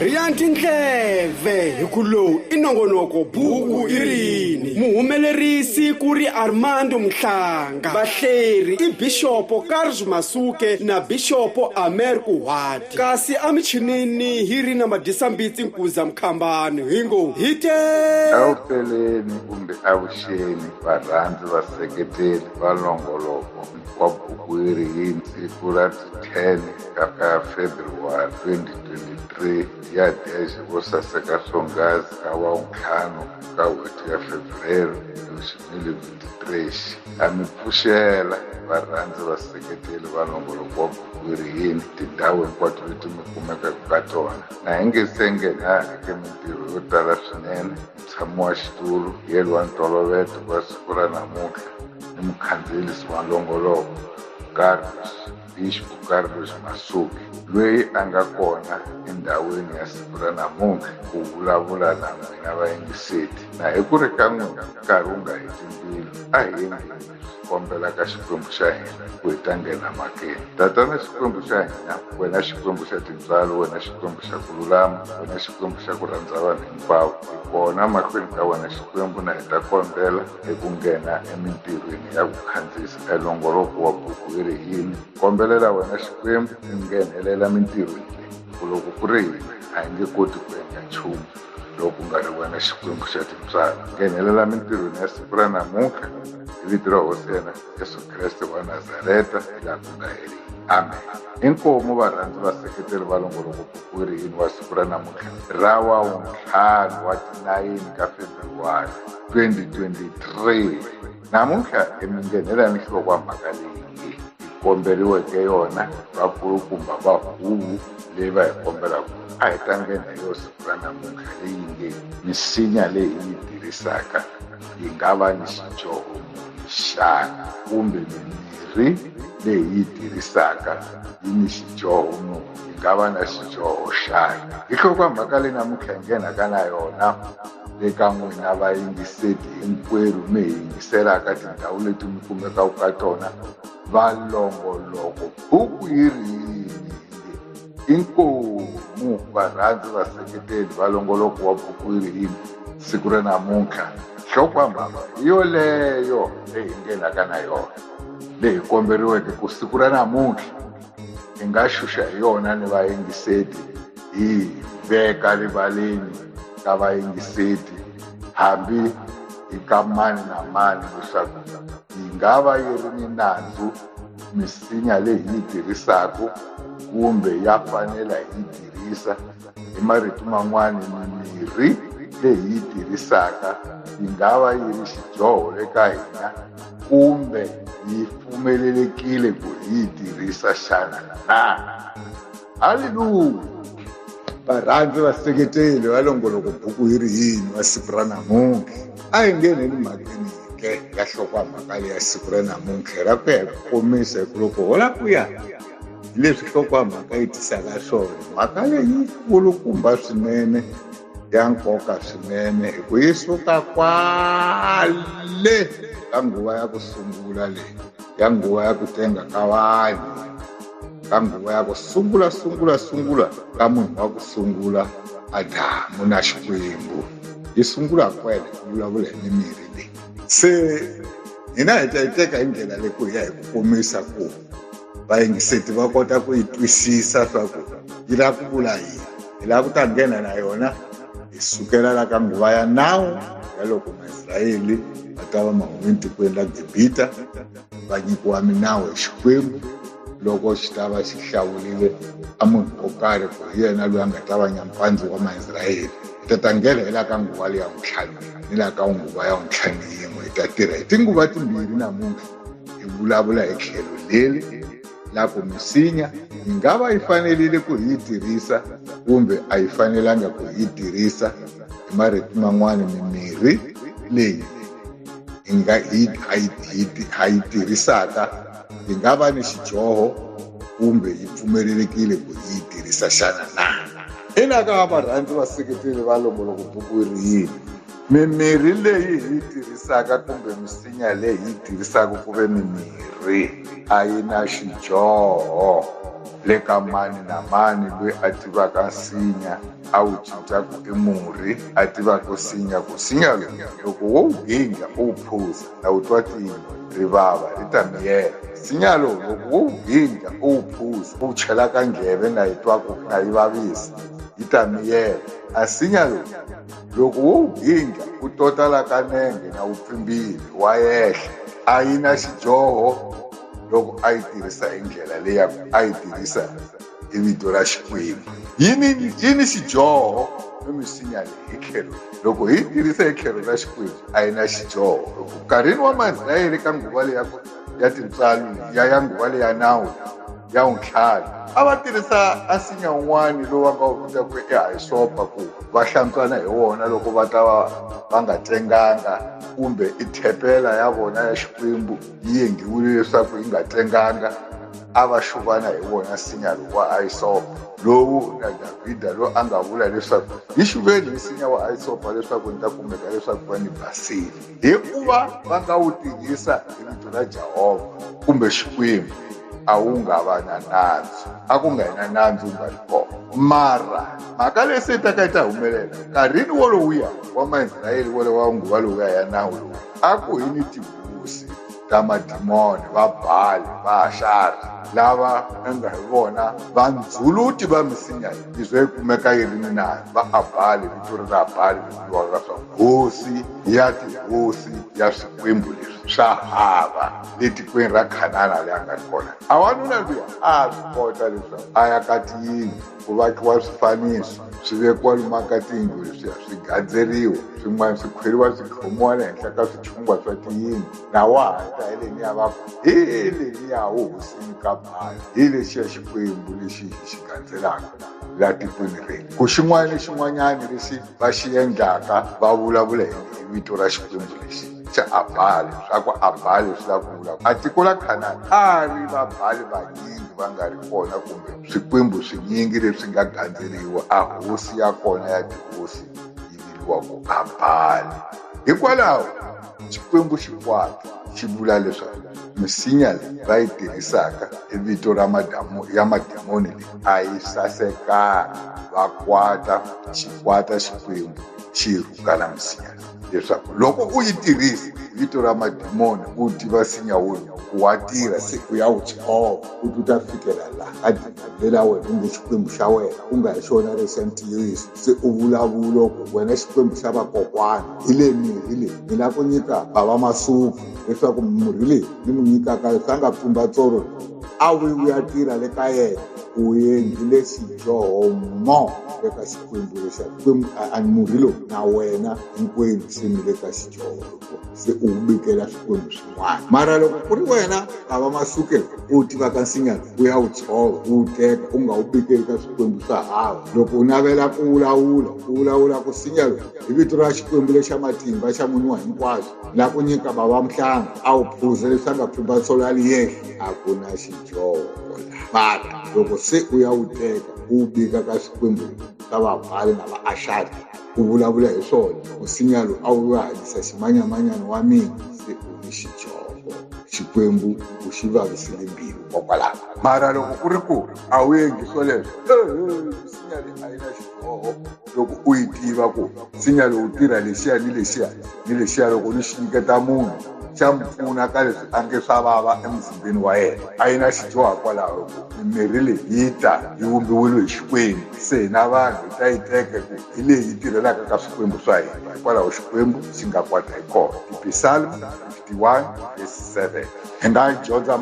riya tindleve hi ku lowu i nongonoko buku i rini muhumelerisi ku ri armando mhlanga vahleri i bixopo karls masuke na bixopo amer kuhati kasi emichinini hi ri na madisambitsi nkuza mkhambani hi ngo hi te awupeleni kumbe avuxeni varhandzi vaseketeli va longoloko wa Bukwerhi hi siku ra 10 ra February 2023 ya Deje vo saseka swonghasi ka Wavuntlhanu ka hweti ya Febrero Lushimili 23 ha mi pfuxela varhandzi vaseketeli va nongoloko wa Bukwerhi yini tindhawu hinkwato leti mi kumekaka ka tona na hi nge se nghena eka mintirho yo tala swinene Mutshami wa xitulu yelwe wa ntolovelo wa siku ra namuntlha i mukhandziyelisi wa nongoloko Carlos Bispo Carlos Masuke lweyi a nga kona endhawini ya siku ra namuntlha ku vulavula na n'wina vayingiseti na hi ku ri ka n'wina nkarhi wu nga heti mbilu a hi kombela ka xikwembu xa hina ku hi ta nghena makeni tatana xikwembu xa hina wena xikwembu xa tintswalo wena xikwembu xa ku lulama wena xikwembu xa ku rhandza vanhu hinkwavo hi kona mahlweni ka wena xikwembu na hi ta kombela hi ku nghena emintirhweni ya ku khandziyisa elongoloko wa buku yi ri yini kombelela wena xikwembu hi nghenelela mintirhweni leyi ku loko ku ri hina a hi nge koti ku endla nchumu lowu ku nga ri wena xikwembu xa timbyana nghenelela mintirhweni ya siku ra namuntlha hi vito ra hosi yena yesu kreste wa nazareta hi laha ku nga heriki amen inkomu varhandzi vaseketeri va longoloko buku ri yini wa siku ra namuntlha ra wa wuntlhanu wa tinayini ka februwari 2023 Namuntlha hi mi nghenela ni nhlokwamhaka leyi hi komberiweke yona vakulukumba va huvo leyi va hi kombelaka a hi tlangeni hi yo siku ra namuntlha leyi nge misinya leyi hi yi tirhisaka yi nga va ni xidyoho muni xana kumbe mimirhi leyi hi yi tirhisaka yi ni xidyoho muni yi nga va na xidyoho xana hi nhlokwamhaka leyi namuntlha hi nghenaka na yona eka n'wina vayingiseti hinkwerhu mi hi yingisela ka tindhawu leti mi kumekaka ka tona valongoloko buku yi ri yini inkomu varhandzi vaseketeli valongoloko wa buku yi ri yini siku ra namuntlha nhlokwambhava hi yoleyo leyi hi nghenaka na yona leyi komberiweke ku siku ra namuntlha hi nga xuxa hi yona ni vayingiseti hi veka rivaleni ka vayingiseti hambi hi ka mani na mani leswaku yi nga va yi ri ni nandzu misinya leyi hi yi tirhisaka kumbe ya fanela hi yi tirhisa Hi marito man'wana mimirhi leyi yi tirhisaka yi nga va yi ri xidyoho eka hina kumbe yi pfumelelekile ku hi yi tirhisa xana na haleluya varhandzi vaseketeli va longoloko buku yi ri yini wa siku ra namuntlha a hi ngheneni mhakeni yike ya hlokwamhaka leyi ya siku ra namuntlha ra ku ya hi ku komisa hi ku loko hola ku ya leswi nhlokomhaka yi tisaka swona mhaka leyi kulukumba swinene ya nkoka swinene hi ku yi suka kwale ka nguva ya ku sungula leyi ya nguva ya ku tenga ka vanhu ka nguva ya ku sungula sungula sungula ka munhu wa ku sungula adamu na xikwembu yi sungula kwele ku vulavula hi mimirhi leyi se hina hi ta yi teka hi ndlela leyi ku hi ya hi ku komisa ku vayingiseti va kota ku yi twisisa swa ku yi lava ku vula yini hi lava ku ta nghena na yona hi sukela la ka nguva ya nawu ya loko maisrayeli va ta va mahumi etikweni la gibita va nyikiwa minawu hi xikwembu loko xi ta va xi hlawulile a munhu wo karhi ku hi yena loyi a nga ta va nyampandzi wa maisrayeli hi ta ta nghena hi la ka nguva leya n'witlhanu ni la ka nguva ya n'witlhanu yin'we hi ta tirha hi tinguva timbirhi namuntlha hi vulavula hi tlhelo leri la ku misinya yi nga va yi fanerile ku yi tirhisa kumbe a yi fanelanga ku yi tirhisa hi marito man'wana mimirhi leyi hi nga hi ha yi tirhisaka yi nga va ni xidyoho kumbe yi pfumelelekile ku yi tirhisa xana na ina ka varhandzi vaseketeli va longoloko buku ri yini mimirhi leyi hi yi tirhisaka kumbe misinya leyi hi yi tirhisaka ku ve mimirhi a yi na xidyoho le ka mani na mani loyi a tivaka nsinya a wu cinca ku i murhi a tivaka sinya ku sinya lowu loko wo wu ginja u wu phuza na wu twa tini rivava ri ta miyela sinya lowu loko wo wu ginja u wu phuza u wu chela ka njheve na yi twa ku na yi vavisa yi ta miyela a sinya lowu loko wo wu gindla u tota la ka nenge na wu pfimbile wa yehla a yi na xidyoho loko a yi tirhisa hi ndlela leyi ya ku a yi tirhisa hi vito ra xikwembu yi ni yi ni xidyoho ni misinya leyi hi tlhelo loko hi yi tirhisa hi tlhelo ra xikwembu a yi na xidyoho loko nkarhini wa maisrayele ka nguva leyi ya ku ya tintswalo ya ya nguva leya nawu ya untlhanu a va tirhisa asinya un'wana lowu va nga wu vita ku i hayisopa ku va hlantswana hi wona loko va ta va va nga tsenganga kumbe i thepela ya vona ya xikwembu yi yenghiwile leswaku yi nga tsenganga a va xuvana hi wona nsinya lowu wa hayisopa lowu na davhida loyi a nga vula leswaku yi xuveni nsinya wa hayisopa leswaku ni ta kumeka leswaku va ni basile hi ku va va nga wu tirhisa hi vito ra jehovha kumbe xikwembu a wu nga va na nandzu a ku nga yina nandzu nga ri kona mara mhaka leyi se taka yi ta humelela nkarhini wolowuya wa maisrayele wolowo wa nguva lowuya ya nawu lowu a ku hi ni tihosi ta madimoni va bali va ashari lava nga hi vona vandzuluti va misinya yi ze yi kumeka yi ri ni nandzu va abali vito ri ra abali Lwanga swa hosi ya tihosi ya swikwembu leswi swa hava le tikweni ra khanana leyi a nga ri kona a wanuna luya a swi kota leswaku a ya ka tiyindlu ku vakiwa swifaniso swi vekiwa lumaka tiyindlu leswiya swi gandzeriwa swin'wana swi khweriwa swi tlhomiwa le henhla ka swichungwa swa tiyindlu na wa ha ta hi leniya va ku hi leniya wo hosini ka bhayi hi lexiya xikwembu lexi hi xi gandzelaka la tikweni renu ku xin'wana ni xin'wanyana lexi va xi endlaka va vulavula hi vito ra xikwembu lexi xa abhali swa ku abhali swi la ku vulavula a tiko la khanani a ri vabhali vanyingi va nga ri kona kumbe swikwembu swinyingi leswi nga gandzeriwa a hosi ya kona ya tihosi yi viliwa ku abhali hikwalaho xikwembu xikwata xi vula leswaku misinya leyi va yi tirhisaka i vito ra madamu ya mademoni leyi a yi sasekanga va kwata xi kwata xikwembu xi rhuka na misinya leswaku loko u yi tirhisa vito ra madimoni u tiva sinya wona ku wa tirha se u ya wu tshova u ta fikela laha ka dina lela wena kumbe xikwembu xa wena ku nga hi xona lexi xa ntiyiso se u vulavula ku wena xikwembu xa vakokwana hi le mirhi leyi ni lava ku nyika bava masuku leswaku murhi leyi ni n'wi nyikaka leswi a nga pfumba tsoro a wi wu ya tirha le ka yena ku endlile xidyoho mo le ka xikwembu lexa kwembu a ni murhi lowu na wena hinkwenu se ni le ka xidyoho se u wu bikela swikwembu swa un'wana mara loko ku ri wena a va masuke u tiva ka nsinyana u ya wu tshova u wu teka u nga wu bikeli ka swikwembu swa hava loko u navela ku wulawula u wulawula ku sinya lowu hi vito ra xikwembu lexa matimba xa munhu wa hinkwaswo la ku nyika bava mhlanga a wu phuza leswi a nga pfumba tsolo ya liyehla a ku na xidyoho mara loko se u ya wu teka u wu bika ka swikwembu swa vabali na vaashari ku vulavula hi swona nsinyalo a wu nga hanyisa ximanyamanyana wa mina se u ni xichoko xikwembu u xi vavisile mbilu kokwalaho mara loko ku ri ku a wu endli swoleswo nsinya leyi a yi na xiboho loko u yi tiva ku nsinya lowu tirha lexiya ni lexiya ni lexiya loko ni xi nyiketa munhu xa mi pfuna ka leswi a nge swa vava emuzimbeni wa yena a yi na xidyoha kwalaho ku mimirhi leyi yi ta yi vumbiwile hi xikwembu se hina vanhu hi ta yi teka ku hi leyi yi tirhelaka ka swikwembu swa hina hikwalaho xikwembu xi nga kwata hi kona tipisalm 51 vs 7 hi nga dyondza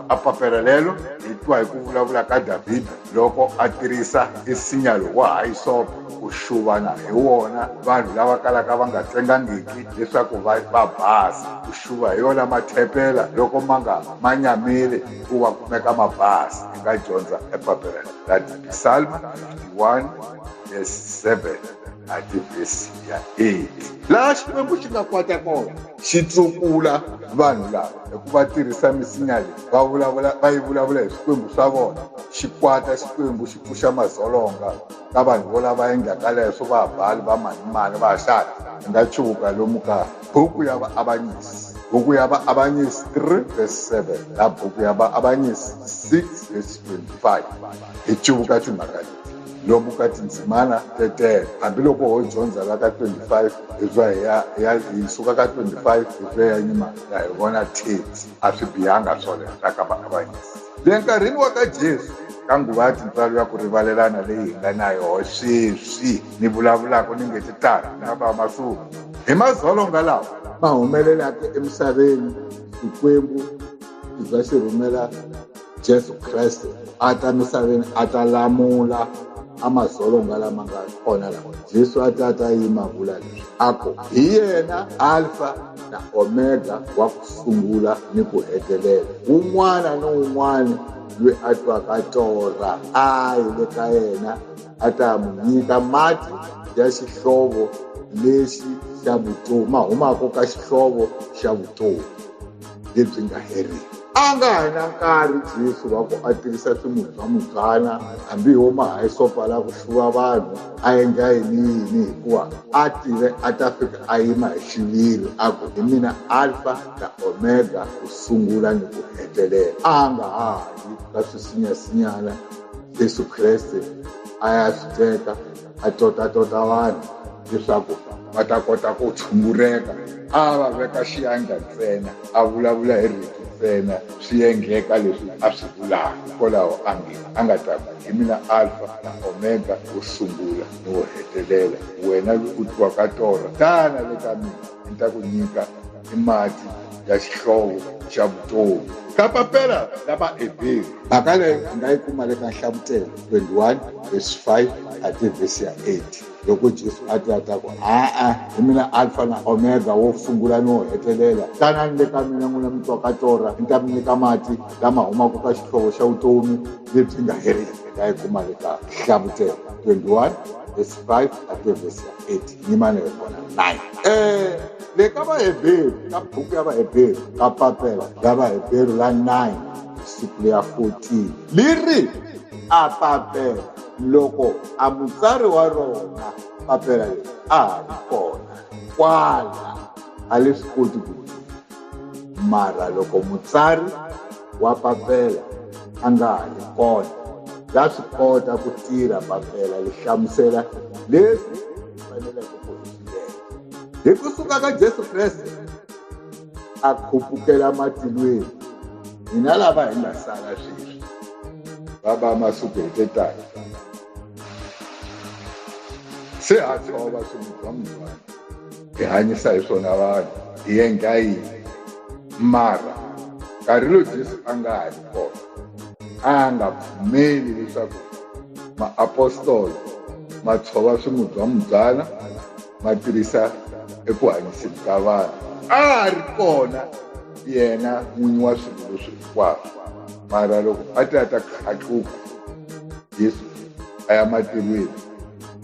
apapela lelo hi twa hi ku vulavula ka davhida loko a tirhisa nsinya lowa ha yi sopa ku xuvana hi wona vanhu lava kalaka va nga tsengangiki leswaku va va basa ku xuva hi yona mathepela loko ma nga ma nyamile ku va kumeka ma basa hi nga dyondza epapelelo That is the Psalm 51 verse 7 ati verse ya 8 laha xikwembu xi nga kwata kona xi tlukula vanhu lava hikuva tirhisa misinya leyi va vulavula va yi vulavula hi swikwembu swa vona xi kwata xikwembu xi pfuxa madzolonga ka vanhu vo lava endlaka leswo va bali va manimani va xana hi nga chuvuka lomu ka buku ya vaavanyisi buku ya vaavanyisi 3 verse 7 na buku ya vaavanyisi 6 verse 25 hi cuvuka timhaka leti lomu ka tindzimana tetele hambiloko ho dyondza la ka 25 hi twa hi ya- hi ya- hi suka ka 25 hi twa ya nyima ya hi vona teti a swi bihanga swoleswo ka vaavanyisi Le nkarhini wa ka Jesu, ka nguva ya tintswalo ya ku rivalelana leyi hi nga na yoho sweswi ni vulavulaka ni nge ti tala ku nga va masuku hi madzolonga lawa ma humelelaka emisaveni xikwembu xi za xi rhumela Jesu Kreste a ta misaveni a ta lamula a madzolonga lama nga kona lawa jesu a ta ta yima vula leswi a ku hi yena alfa na omega wa ku sungula ni ku hetelela un'wana ni un'wana loyi a twaka torha a yi le ka yena a ta mu nyika mati ya xihlovo lexi xa vutomi ma humaka ka xihlovo xa vutomi lebyi nga heriki a nga ha na nkarhi jesu wa ku a tirhisa swimurhi swa mubyana hambi hi wo mahayisopa la ku hluva vanhu a endla yini yini hikuva a tive a ta fika a yima hi xiviri a ku hi mina alfa na omega ku sungula ni ku hetelela a nga ha yi ka swisinyasinyana yesu kreste a ya swi teka a totatota vanhu leswaku va ta kota ku tshungureka a va veka xiyandla ntsena a vulavula hi rito ntsena swi endleka leswi a swi vulaka hikwalaho a nge a nga ta ku hi mina alfa na omega wo sungula ni wo hetelela wena loyi u twiwaka torha tana le ka mina ni ta ku nyika ni mati ya xihlovo xa vutomi ka papela la vaeberi mhaka leyi u nga yi kuma le ka nhlavutelo 21 vesi 5 a ti vhesi ya 8 loko jesu a ti a ta ku a-a hi mina alfa na omega wo sungula ni wo hetelela tanani le ka mina n'wina mi twaka torha ni ta mi nyika mati lama humaka ka xihlovo xa vutomi lebyi nga heriki nga yi kuma le ka nhlavutelo 21 vesi 5 a ti vhesi ya 8 yimani hi vona nine um le ka vaheberu ka buku ya vaheberu ka papela ya vaheberu la nine siku leya 14 li ri a papela loko a mutsari wa rona papela leri a ha ri kona kwala a le swi koti ku mara loko mutsari wa papela a nga ha ri kona la swi kota ku tirha papela li hlamusela leswi faneleke ku hixilela hi ku suka ka jesu kreste a khupukela matilweni hina lava hi nga sala sweswi va va masiku hi te tani se ha tshova swimudwa mudwana hi hanyisa hi swona vanhu hi endla yini mara nkarhi lowu jesu a nga ha ri kona a nga pfumeli leswaku maapostolo ma tshova swimudzamubyana ma tirhisa eku hanyiseni ka vanhu a a ri kona yena n'winyi wa swilo leswi hinkwaswo mara loko a ti a ta khatluka Yesu a ya matilweni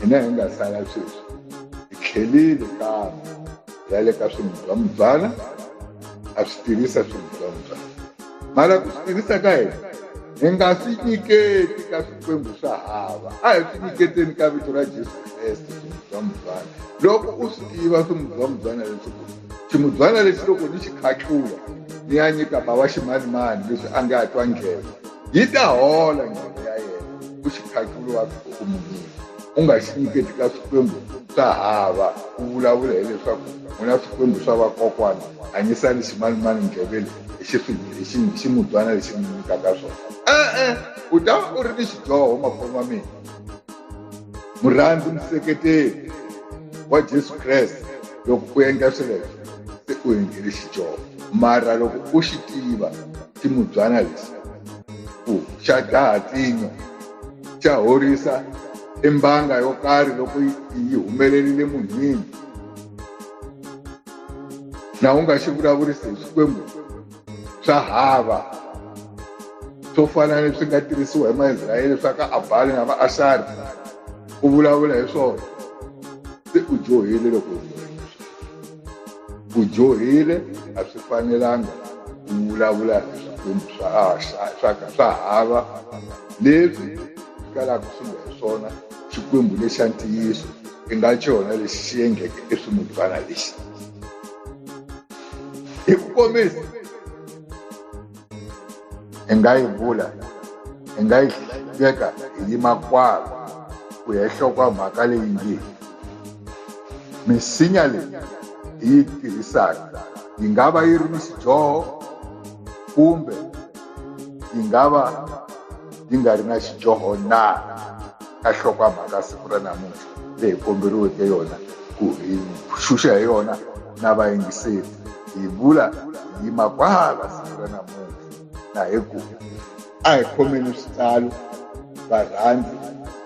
hina hi nga sala sweswi hi tlhelile kambe ya le ka swimubyambyana a swi tirhisa swimubyambyana mara ku swi tirhisa ka hina hi nga swi nyiketi ka swikwembu swa hava a hi swi nyiketeni ka vito ra jesu kreste swimubyambyana loko u swi tiva swimubyambyana leswiku ximubyana lexi loko ni xi khatlula ni ya nyika bava ximanimani leswi a nga twa nghena yi ta hola ndzilo ya yena ku xiphakulu wa ku munini u nga xi nyiketi ka swikwembu swa hava ku vulavula hileswaku u na swikwembu swa vakokwana hanyisani ximanimani ndleveni hi ximudyana lexi mi nyikaka swona e-e u ta u ri ni xidyoho makholo ma mina murhandzi museketeri wa jesu kreste loko u endla swileswo se u endlile xidyoho mara loko u xi tiva ti n'wi byala leswi ku xa dlaha tsinyo xa horisa i mbanga yo karhi loko yi humelerile munhwini na u nga xi vulavurisi hi swikwembu swa hava swo fana ni swi nga tirhisiwa hi maisrayele swa ka abali na va ashari u vulavula hi swona se u dyohile loko ku dyohile a swi fanelanga ku vulavula hi swikwembu swa swa swa hava leswi swi kalaka swi nga hi swona xikwembu lexa ntiyiso i nga xona lexi xi yengeke eswimudvana lexi hi ku komisa hi nga yi vula hi nga yi veka hi yima kwalo ku ya hlokwa mhaka leyi nge misinya leyi hi yi tirhisaka yi nga va yi ri ni xidyoho kumbe yi nga va yi nga ri na xidyoho na ka hlokwa mhaka siku ra namuntlha leyi hi komberiweke yona ku hi xuxa hi yona na vayingiseri hi vula hi yima kwala siku ra namuntlha na hi ku a hi khomeni switalo varhandzi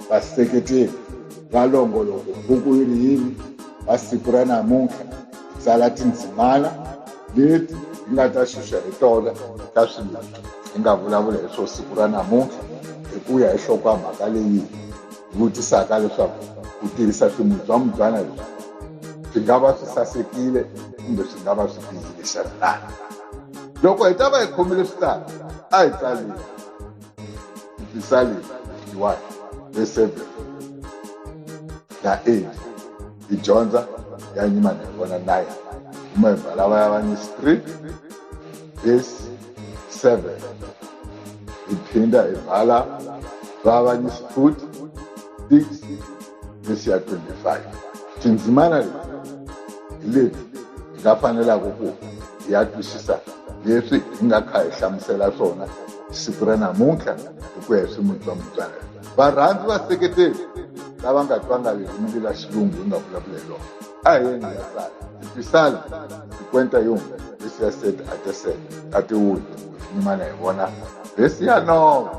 vaseketeri va longoloko buku yi ri yini va siku ra namuntlha hi tsala tindzimana leti hi nga ta xuxa hi tona ka swilo hi nga vulavula hi swo siku ra namuntlha hi ku ya hi nhlokomhaka leyi vutisaka leswaku ku tirhisa swimubyambyana leswi swi nga va swi sasekile kumbe swi nga va swi bihile xana na loko hi ta va hi khomile swi tala a hi tsaleni tisaleni one verse seven na eight hi dyondza ya nyimana hi vona nine kuma hi bala va ya va ni street Verse 7 iphinda ibhala vavanyisi futi 6 vesi ya 25 tindzimana leti hi leti hi nga fanelaka ku hi ya twisisa leswi hi nga kha hi hlamusela swona siku ra namuntlha hi ku ya hi swimuni swa mutswalelo varhandzi vaseketeli lava nga twangaviki mili la xilungu hi nga vulavula hi lona a hi yeni ya sala ti sala ti kwenta yunga leswi ya sete a ti sete a ti wuli nyimana hi vona leswi ya nova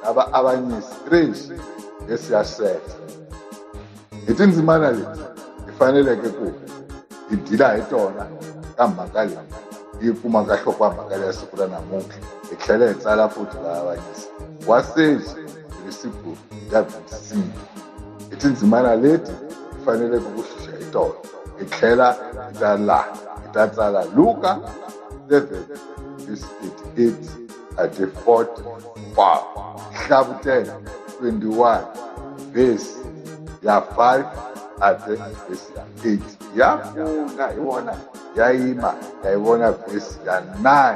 a va avanyisi trish leswi ya sete hi tindzimana leti hi faneleke ku hi dila hi tona ka mhaka leyi yi kumaka nhlokomhaka leya siku ra namuntlha hi tlhela hi tsala futhi va avanyisa wa seji irisible ya vhikisiyi hi tindzimana leti hi faneleke ku xuxa hi tona hi tlhela hi ta laha hi ta tsala luka 11 verse 38 ate 40 pa hlavutela 21 verse ya 5 ate verse ya 8 ya pfuna hi vona ya yima ya yi vona verse ya 9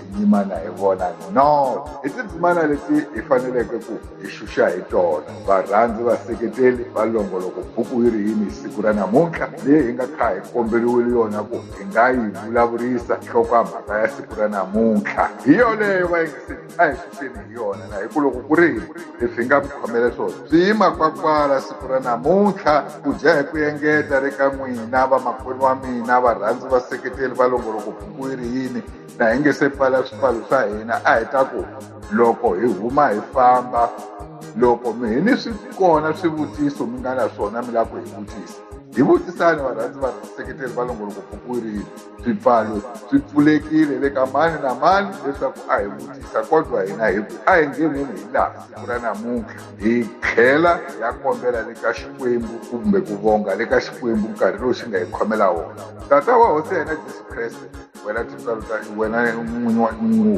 tindzimana hi vona north i tindzimana leti hi faneleke ku hi xuxa hi tona varhandzi vaseketeli va longoloko buku yi ri yini hi siku ra namuntlha leyi hi nga kha hi komberiwile yona ku hi nga yi vulavurisa nhloko ya mhaka ya siku ra namuntlha hi yoleyo va yingiseli a hi xuxeni hi yona na hi ku loko ku ri hi leswi hi nga ku khomele swona swi yima kwakwala siku ra namuntlha ku dya hi ku engeta le ka n'wina vamakwerhu wa mina varhandzi vaseketeli va longoloko buku yi ri yini na hi nge se pfala swipfalo swa hina a hi ta ku loko hi huma hi famba loko mi hi ni swi kona swivutiso mi nga na swona mi lava ku hi vutisa hi vutisani varhandzi va seketeri va longoloko pfukurini swipfalo swi pfulekile le ka mani na mani leswaku a hi vutisa kodwa hina hi ku a hi ngheneni hi laha siku ra namuntlha hi tlhela ya kombela le ka xikwembu kumbe ku vonga le ka xikwembu nkarhi lowu xi nga hi khomela wona tata wa hosi ya hina jesu kreste wena tintswalo ta wena n'winyi wa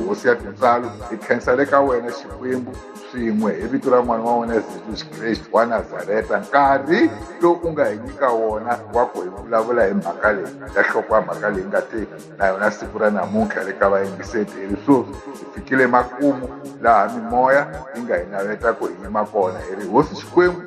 hosi ya tintswalo hi khensa le ka wena xikwembu swin'we hi vito ra n'wana wa wena yesus kreste wa nazareta nkarhi lowu u nga hi nyika wona wa ku hi vulavula hi mhaka leyi ya hloko ya mhaka leyi nga te na yona siku ra namuntlha le ka vayingiseti hi ri sweswi hi fikile makumu laha mimoya yi nga hi naveta ku hi yima kona hi ri hosi xikwembu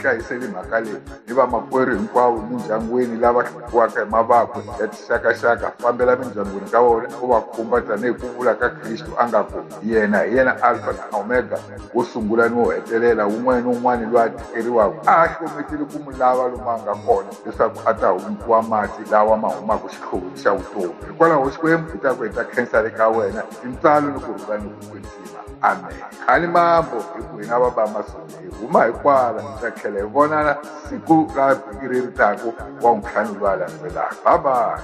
hlayiseli mhaka leyi ni vamakwerhu hinkwavo emindyangwini lava hlukiwaka hi mavabyi xakaxaka fambela mindyangwini ka vona u va khumba tanihi ku vula ka kristu a nga ku yena hi yena alfa na omega wo sungula ni wo hetelela wun'wana ni wun'wana loyi a tikeriwaka a a hlometeli ku mu lava lomu a nga kona leswaku a ta hundziwa mati lawa ma humaka xihloveni xa vutomi hikwalaho xikwembu i ta ku heta khensa le ka wena tintsalo ni ku rhula ni ku kwetsima amen khani mambo hi ku hina va ba masungu hi huma hi kwala hi ta tlhela hi vonana siku ra vhiki leri taku wa n'witlhanu lowa landzelaka babayi